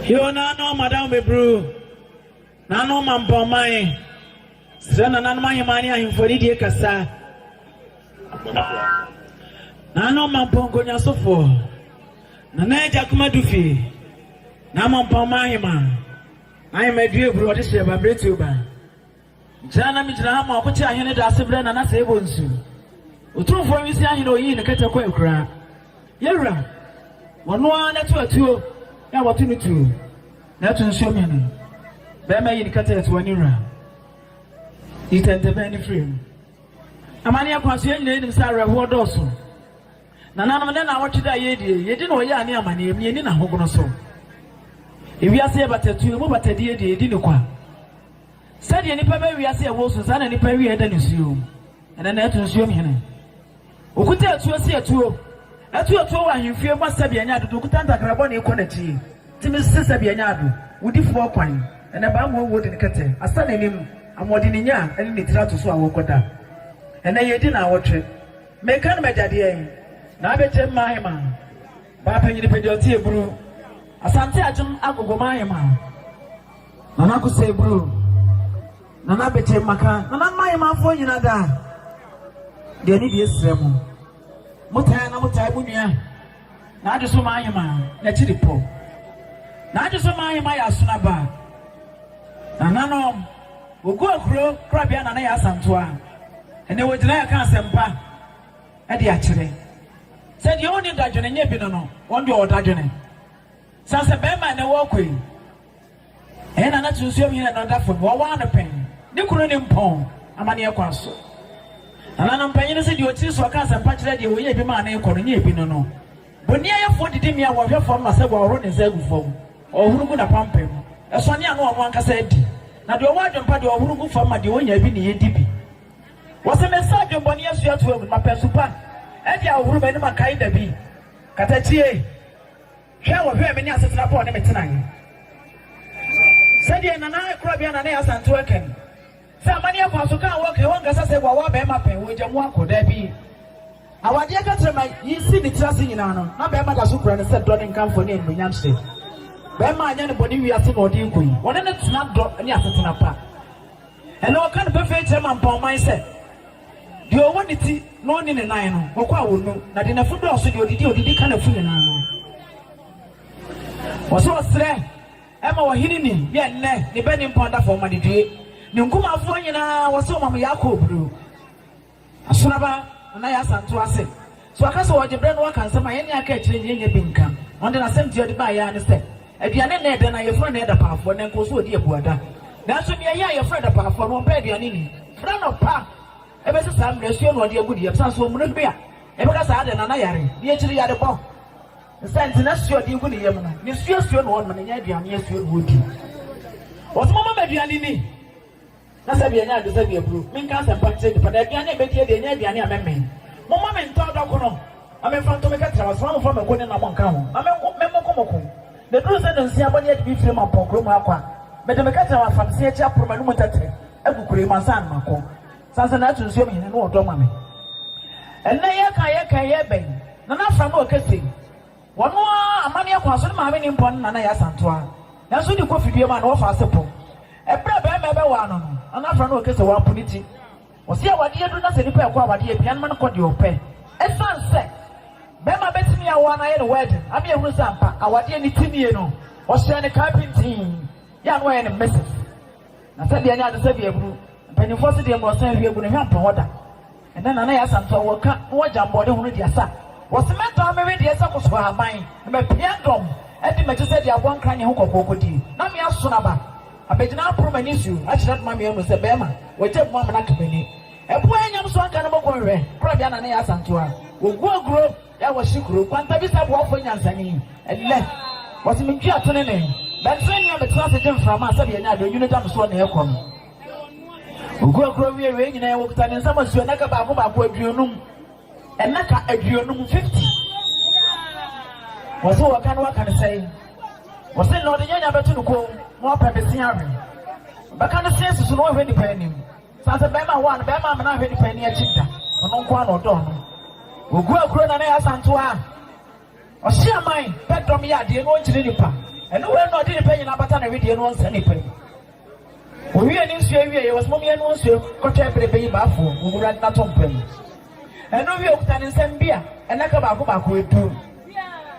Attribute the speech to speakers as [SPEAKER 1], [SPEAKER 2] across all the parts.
[SPEAKER 1] Yo nano madam bebru nano mampɔman srɛ nananom aheman ne ahemfo anidie kasa nano mampɔnkɔnyasofo nana agya kuma du fie na mampɔman ahema ahema due buru ɔde hyɛ ba mmerɛtuo ba Gyina na migyina ha ma ɔkwati ahene dase brɛ Nana Sebo Nsu. Otumfoɔ Nwisiaa Hene oyii ne kɛtɛ kɔ akuraa. Yɛwura, ɔno ara na ɛto atuo na wɔto no tuo na ɛto nsuo mene. Bɛrima yi ne kɛtɛ ɛtoa ne wura. Yi tɛntɛbɛn ne firi mu. Amanneɛ kwan so yɛn nyinaa nim sɛ awerɛhoɔ dɔɔso. Nananom ne naawɔtwe da a yɛredie, yɛdi na ɔyɛ a ne amanneɛ mu yɛnni n'ahogono so. Ewiase yɛ batatuo, emu batadie deɛ yɛdi ne kwa. Sɛdeɛ nnipa bɛ wiase a ɛwɔ su saa na nnipa awieɛ da nisuo mu. Ɛnɛ na ɛto nsuom hene. Okuta atuo si atuo. Ɛto atuo wɔ ahemfie mu ma sɛbea nya ado do okuta ntakra bɔne kɔ n'akyie tumi se sɛbea nya ado wodifoɔ kwan. Ɛnɛ baa mmoa wuo de ne kɛtɛ asa n'anim ahoɔden ne nya ne ne tiri ato so a wɔkɔ da. Ɛnɛ yɛredi naawɔtwe. Meka no m'agya deɛn? N'abɛkyɛm Mahema baa panyini pɛdi ɔte aburu. Asante Agyem Agogo Mahema. Nana Kusey Bro, Nana Bekyem Maka, Nana Mmayemanfoɔ nyina da a, deɛ ne deɛ srɛ mo. Motaa na motaa mo nua. Na agye so maa yema na akyi de pɔ. Na agye so maa yema yɛ asona ba. Nananom, wɔgu akuro korabea nana yɛ asantoa. Ɛnɛ wɔgyina yɛ ka asɛmpa ɛde akyerɛ. Sɛ deɛ ɔni dadwene nyɛ bi no no, wɔn deɛ ɔdadwene. Sɛ sɛ bɛrima na ɛwɔ kɔ yi, Ɛyɛ na na Sunsuam Hene no da fam, wɔwɔ ano pɛn, ne kunu ne mpɔn amanneɛ kwan so. Nananom mpanyin no se deɛ ɔtiri so ɔka asɛmpa kyerɛ deɛ ɔyɛ ebi ma ne kɔ no nyɛ ebi no no. Boniayɛfoɔ didi mmea a wɔhwɛ fam ma sagua ɔhoro ne nsa gu fam, ɔhoro gu n'apampam, ɛsɔne ano wɔn ankasa adi. Na deɛ ɔwɔ adwempa deɛ ɔhoro gu fam ma deɛ ɔnya bi ne yɛdi bi. Wɔse mesa adwembɔne asua to agu, mapɛ nsu pa adi ahohoro m'anim ankae da bi. Katakyie. Hwɛ, wɔhwɛɛ me ne Asetena Paul ne me tenae. Sɛdeɛ Nana Korabea Nana Asantew aka ni, sɛ amanneɛ kwan so ka a wɔka yi, wɔnkasa sɛ wɔawo abɛɛma pɛ, wɔagya mu akɔ. Daabi. Awadeɛ kɛtrɛma yi si ne tiri ase nyinaa no, na bɛɛma da so kura no sɛ dɔ ne nkamfo ne animuonyamhyɛ. Bɛɛma anyɛ ne bɔne wiase na ɔde rekɔ yi, wɔne no tena dɔ ne asetena pa. Ɛnnɛ wɔka no pefee kyerɛ mampɔnman sɛ, Deɛ ɔwɔ ne ti na ɔnni ne nan no, ɔkɔ a ɔnnu, na deɛ n'afu dɔɔso deɛ, ɔdidi a ɔdidi ka n'afu nyinaa. Wɔsɛ ɔsrɛ ma ɔhene ni yɛ nnɛ, ne bɛ ne mpɔn da fam ma ne due. Ne nkumafoɔ nyinaa wɔsɛ ɔma mo Yakob duro. Asoraba, Nana Yasa ntoa se. So ɔka sɛ ɔde berɛ na waka nsɛm a ɛne aka akyire no yɛnnya bi nka? Ɔde n'asɛmti a ɔde baeɛ ara ne sɛ, Aduane nna ɛda na yɛfrɛ no adapaafoɔ, na ɛnkɔɔ so ɔdii abuada. Nanso nea ɛyɛ a yɛfrɛ adapaafoɔ no, ɔmpɛ aduane nni. Frɛ no pa. Ɛbɛsi saa mmerɛ asuo na ɔde agu deɛ ɛbɛsane so ɔmunu hwi a, yɛbɛka sɛ adɛn? Nana yare, ne akyiri yarebɔ. Ne saa nti, n'asuo a ɔde gu ne yam no, ne suasuo na ɔnom, ɛnyɛ aduane asuo na ɔdi. Ɔse momma me aduane nni. Na sɛdeɛ ɛnyɛ ade sɛdeɛ aburo menka asɛmpa nkyerɛ nnipa, na aduane a ɛbɛdie deɛ ɛnyɛ aduane a mɛmee. Momma me ntɔ adɔko no, na memfa nto me kɛtrɛma so, na momfa me nko ne nam nka ho, na menko memmoko moko. Na ɛduru sɛ nonsia bɔ ne adi me fire ma mpɔnkoro mu akwa, mede me kɛtrɛma fam se akyi aporo m'anomu ntɛtɛ agu kuro yi mu ansa na makɔ. Sansa na ato nsuom hene no wɔ dɔ ma me. Ɛnnɛ yɛka a yɛka yi ɛbɛn? Nana Afram ɔkɛ sei. Ɔno ara amanneɛ kwan so, ne maame ne mpɔn no na na ɛyɛ Asantoa, nanso wode kɔ fidua mu a, na wɔfa ase po. Ɛberɛ a barima rebɛwaa no no, na n'afra no reka sɛ wɔapo ne ti. Wɔse awadeɛ aduru na sɛ nipa rekɔ awadeɛ a, aduane ma no kɔ deɛ ɔpɛ. Ɛsiane sɛ barima bɛtumi awoa no ayɛ no wedding ama yɛahunu sɛ ampa awadeɛ ne ti nie no, wɔhyɛɛ no kaa pintinn, yɛ a na wɔyɛ no Mrs. Na sɛdeɛ ɛnyɛ ade sɛ deɛ abunu, mpanimfoɔ se deɛ mmorɔsan hwie gu no hwɛ ampa hɔ da. Ɛnnɛ Nana yɛ Asantewaa wɔ ka na wɔ gya mboɔden hono dua sa. Wɔ se mɛtɔn me wedeɛ sɛ kosohɔ haban na mapia dɔm adi m'akyi sɛ deɛ aboa nkranyɛ ho kɔkɔɔ kɔdie. Na me asono aba abɛgyina aporo m'ani so akyerɛ dma me amu sɛ bɛɛma wɔgya mu amena ka m'ani. Ɛboɔ yɛ nyam so anka no mɔkɔ nhwɛ korabea Nana yɛ Asantewaa wɔ gu aguro yɛ wɔ hye kuro kwantabisa aboafoɔ nyansani. Ɛnnɛ wɔ se mentwi atenenee bɛntere nea metena ase gye mframa sɛbe yɛ nya deɛ onwunu da me soɔ na ɛkɔ no. Nkurakura wie wei nyinaa wɔkuta ne nsam asuo nnaka baako baako aduonum nnaka aduonum fifty wɔsɛ wɔka no waka no sɛe wɔsɛ na ɔde nyanya bɛto no kɔn na wapɛ bɛsi awe bɛka no sɛ susu na wahwɛ nipa anim saa sɛ bɛrima hɔ a no bɛrima amena ahwɛ nipa ani akyi da ɔno nko a na ɔdɔ ɔno wɔgu akuro na na yɛ asantoa a Ɔhye aman pɛ dɔm yɛ adeɛ na ɔnkyini nnipa, ɛno wei na ɔde ne pɛ nyinaa bata ne wedeɛ na ɔnsɛ ne pɛ mu. Ɔwiee ne nsuo awieeɛ, ɔse mom yɛnoa nsuo nkɔtwɛn bere bɛyi baafoɔ wɔ mo Wura no n'atom pa mu. Ɛno wie ɔkuta ne nsam bi a nnaka baako baako ɛdum.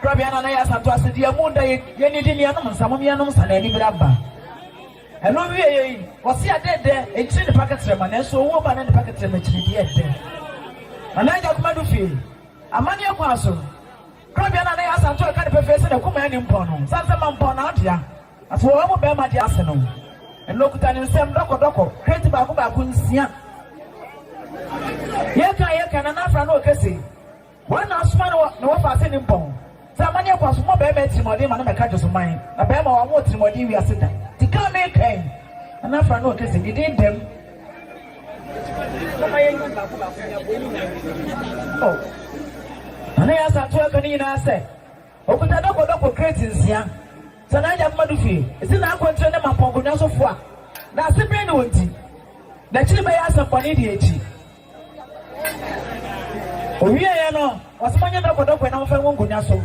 [SPEAKER 1] Krɔbea no anayɛ asanto ase deɛ ɛmu nda yɛ yɛnnidi nnuanom nsa, mom yɛnnom nsa na anibere aba. Ɛno wieeɛ yi, ɔse adeɛ dɛ ɛnkyini nnipa kɛtrɛma, nanso owuo ba na nnipa kɛtrɛma kyini deɛ ɛdɛ. Nana Agya Kumadu fie. Amanneɛ kwan so korabea no a na ɛyɛ Asante a ɔka no pefee sɛ n'akumaa nni mpɔn no, esiane sɛ mampɔn n'adeɛ ase wɔ wɔn mu barima deɛ ase no, ɛnna ɔkuta ne nsam dɔkɔdɔkɔ kreti baako baako nsia. Yɛka yɛka na n'afra no ɔka se, wɔn na asoma no wɔ ne wɔfa ase ne mpɔn. Sɛ amanneɛ kɔ so ma barima atirimuɔden ma no bɛka Josoman na barima wɔ amoɔ tirimuɔden wiase da nti ka me ka yi Nana Afra no ɔkɛ sɛ ne din dɛm oh Nana yɛ asantew aka ne nyinaa sɛ ɔkuta dɔkɔdɔkɔ kreti nsia sɛ na agya mma do fie ɛsi na akwankyerɛ ne ma pɔnkɔnwa so foa na ase bɛn ne wɔ nti na akyiri bɛyɛ asɛmpɔne deɛ akyi Owieɛ no, ɔse monyɛ dɔkɔdɔkɔɛ na momfa ngu nkonnwa so.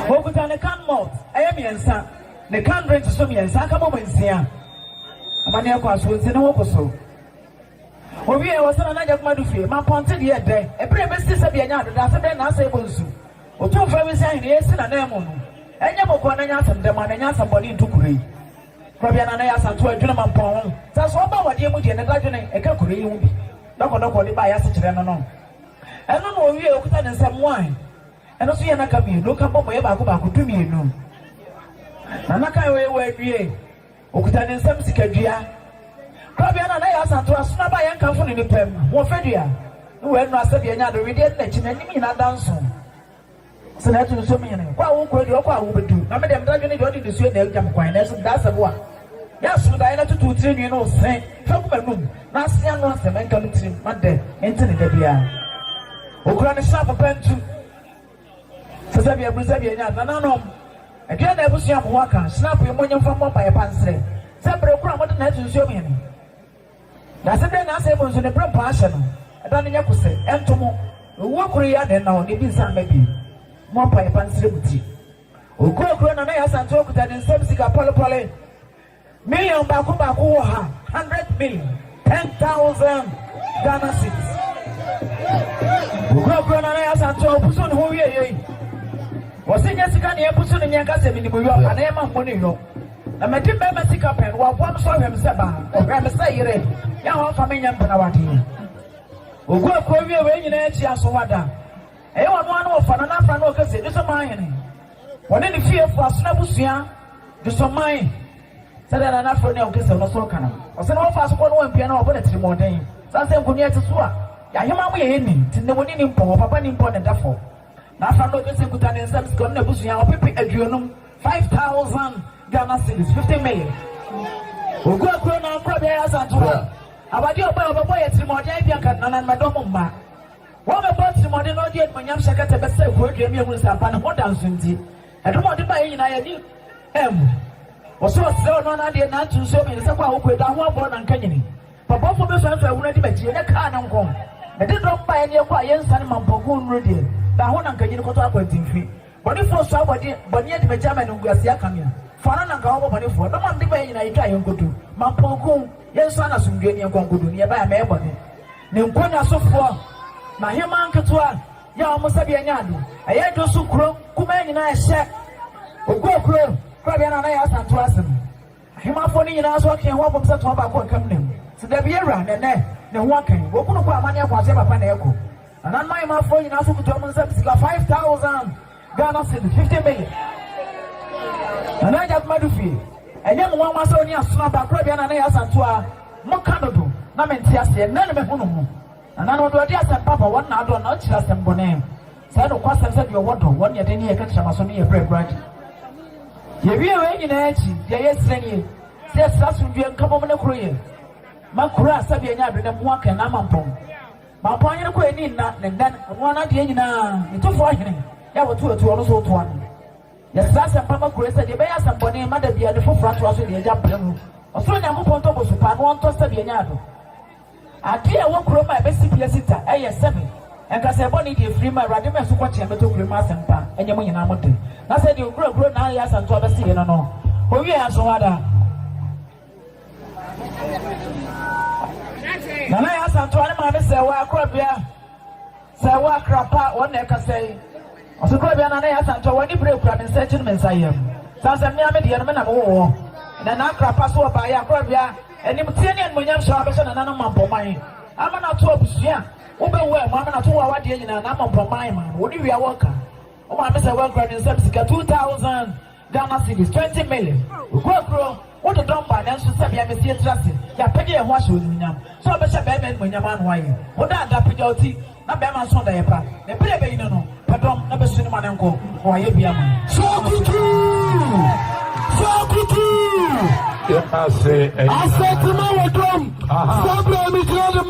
[SPEAKER 1] Okuta ne can malt ɛyɛ mmiɛnsa, ne can drink so mmiɛnsa, aka bɔbɔ nsia. Amaneɛ kɔ aso nti ne ho ko so. Owieɛ ɔse na nagya kuma do fie, ma pɔnte deɛ ɛdɛ, ɛberɛ ɛbɛsi sɛ bia nya adeda, ase dɛn na asɛ ɛbɔ nsu. Otumfoɔ Awurade se, Ahene yi asi n'ananmu no, ɛnyɛ bɔkɔɔ na ɛnyɛ asɛm dam, anaa ɛnyɛ asɛm bɔne nto kuro yi. Kuro biara na na ɛyɛ asantew a ɛdwene ma mpɔn ho. Sɛ so ɔba awadeɛ mu deɛ, ne dadwene, ɛka kuro yi ho bi. Dɔkɔdɔkɔ a ɔde baeɛ ase kyerɛ no no, ɛno na ɔwie a ɔkuta ne nsam wae. Ɛno nso yɛ nnaka mmienu, ka bɔmmɔeɛ baako baako, dumienu na nnaka a ɛwɔ yɛ wɔ awiei. Ɔkuta ne nsam sikadua. Korabea no a na ɛyɛ asanto a soro abaeɛ nkamfo ne nnipa mu ho fadua ne wɔ nnuro asɛdeɛ ɛnyɛ ade wedeɛ ne n'akyi n'anim nyinaa da nso sɛ na ɛto nsuom hene kɔ a wokɔ adi ɔkɔ a wobɛdu na mede mmra dwene deɛ ɔde nisuo na agya me kwan nanso meda asɛbo a yɛ asodaeɛ na tutu tiri nwi no se fa gu m'anum na ase ano asɛm ɛnka me tirim ma dɛ mente ne da biara okura ne hyɛ apopa ntu Sɛ sɛ bia bu sɛ bia nya nananom aduane na abusua mo waka snap yi mo nye mfa mmɔ mpaeɛ pa nsrɛ sɛ berɛ koro a mode na ato nsuo mu he no wiase berɛ nyansee mu nso ne berɛ mpo ahyɛ no ɛda no nyɛ kose ɛnto mo owuo koro yi a na ɛnna hɔ ne bi nsa mma bio mmɔ mpaeɛ pa nsrɛ mo ti okuo kuro nana yɛ asante okuta ne nsam sika pɔlepɔle Million baako baako wɔ ha, hundred million, ten thousand Ghana cedis. Okurakura na anayɛ asante ɔpusu ne ho wie yɛ yi. Wɔsi nyɛ sika na yɛpusu ne nyɛ nka sɛ minimu yɔ ana yɛ ma mbɔ ne yɔ. Na mɛdi mbɛrima sika pɛn, waboa me so ɔhwɛ me sɛ baa, ɔhwɛ me sɛ yere, yɛ a wɔmfa me nyɛ mpenawadeɛ. Okurakura wie wei nyinaa akyi aso wada. Ɛyɛ wɔn ano wɔfa no na afra no ɔka sɛ, Nniso Manhene. Ɔne ne fiefo asono abusua de sɔ man. Sɛdeɛ na n'afrɛ ne ɔnkɛsɛm no so ka no, ɔsɛ na wɔfa so kɔ no wɔ mpia na wɔbɔ no atirimuɔden. Ɛsiane sɛ nkonnwa a ɛte so a yɛahema mu yɛ ani nti, nnamoni nni mpɔ hɔ, papa nni mpɔ ne da fam. N'afra no ɔkɛseɛ kuta ne nsam sika, ɔne n'abusua ɔpepe aduonum, 5,000 Ghana cedis, 50 million. Ɔgu akuro na ɔnkora beaeɛ Asantewaa. Awadeɛ ɔbaa a ɔbɛbɔ yɛ atirimuɔden a ebia nka nananom ɛdɔm mma. Wɔbɛbɔ atirimuɔden na wɔde animuonyam hyɛ kɛtɛ bɛsɛe kuro dua mu, ɛmu nsampa ne ho da nso nti, ɛdom a ɔde baeɛ nyinaa yɛni ɛmmu. Wɔsɛ ɔsrɛ ɔno ara n'adeɛ na atu nsuo mmiɛnsa kɔ ahokoe da ho abɔ na nka nyini. M'abɔfoɔ bɛsua nso ahunu adi m'akyi, ɛnyɛ kaa ne nko. Mede dɔm baeɛ ne ɛkɔ a yɛnsane ma mpaguo nnuru deɛ, da ho na nka nyini kɔtɔ akwantinfi. Bɔnefoɔ sua abɔdeɛ, bɔne adi m'akyi ama animguaseɛ aka me a, fa no na nka wɔbɔ bɔnefoɔ. Dɔm a mede baeɛ nyinaa yɛtwa a yɛnkɔtu, ma mpaguo, yɛnsua na asomdwoeɛ ne yɛnkɔ nkɔdu, ne yɛbaeɛ a mɛyɛ bɔne. Ne nkonnwa sofoɔ, n'ahemmaa nketewa yɛ wɔn sɛdeɛ ɛnyɛ ado. Ɛyɛ dwo so kuro kumaa nyinaa ɛhyɛ Oguo kuro korabea no a na ɛyɛ Asantew ase no. Ahemmafoɔ no nyinaa nso ɔkee ho abom sɛ toa baako a ɛkam nam. Sɛ da bi awura na ɛnnɛ ne ho aka yi, wɔkunu kɔ a amanneɛ kɔ aseɛ papa na ɛkɔ. Nananom ahemmafoɔ nyinaa nso kuta wɔn nsam sika 5000. Ghana cedi fifty million. Nana Adjah Madu fie. Ɛnyɛ me nwanwa sɛ ɔne asono abaakora bia Nana yɛ Asantew a moka no do na mente aseɛ. Nnɛ na mahu no ho. Nana no ɔdɔ ɔde asɛmpa ba, wɔn na adɔ na ɔkyiri asɛmbɔne. Saa nokwasɛm sɛ deɛ ɔwɔ dɔ, wɔn yɛ den ne yɛ ka kyerɛ ma so no yɛ berɛ koraa de. Yɛwie wei nyinaa akyi, deɛ yɛsrɛ nie sɛ yɛsrɛ asomdwoeɛ, nkabom ne koroyɛ ma kuro a sɛdeɛ ɛnyɛ adwenem ho akɛn na ama mpɔn. Baako anyere kɔ ani nna ne nnɛn ɛno ara n'adeɛ nyinaa ne tofoɔ hene yɛ wɔto atu ɔno nso wotoa no yɛsrɛ asɛmpa ma kuro yi sɛdeɛ ɛbɛyɛ asɛmbɔne ma da bia ne foforɔ atoa so deɛ agya brɛ mu ɔsoro nyankopɔn tɔ bosu paa no ɔntɔ sɛbi ɛnyɛ ado adeɛ a ɛwɔ kuro mu a ɛbɛsi pia sita ɛyɛ sɛbi nkasa ɛbɔ ne deɛ firi mu awurade ma ɛso kɔkyeɛ mɛtɔ kuro mu asɛmpa ɛnyɛ mo nyinaa mo de na sɛdeɛ okura kuro na ayɛ asɛntoa bɛsi yɛ no no owie aso hɔ ada Nana yɛ asantoa ne maame sɛ wɔ akorabea sɛ wɔ akrapa wɔn na ɛkasa yi ɔsɛ korabea nana yɛ asantoa wɔn ani bere kura me nsa akyi ne me nsa yam san sɛ mmea me deɛ no me nam wɔ wɔ na na akrapa so wɔ baayɛ akorabea anim tie ne animonyam hyɛ abɛhyɛ nana no ma mpɔman ama na ato abusua wobɛwu a ɛmo ama na ato wɔ awadeɛ nyinaa na ama mpɔman ma wɔn ne wia wɔka wɔn maame sɛ wɔn kura ne nsam sika two thousand Ghana cedis twenty million. Okuo kuro, wo dodɔ mbaa nanso sɛbea mesi yɛtiri ase, yɛapɛgya yɛn ho ahyɛ onimunyam sɛ ɔbɛhyɛ bɛɛma animuonyam ano ayɛ wo daa daa pɛgya wo ti na bɛɛma nso ɔdayɛ pa na bere a ɛbɛyi no no pɛ dɔm na bɛsu ne ma no nkɔ na wayɛ bi ama Sakutu! Sakutu! Yɛn ase ɛyɛ. Asɛtuma wɔ dɔm. Aha. Sábà mi gyina de ma.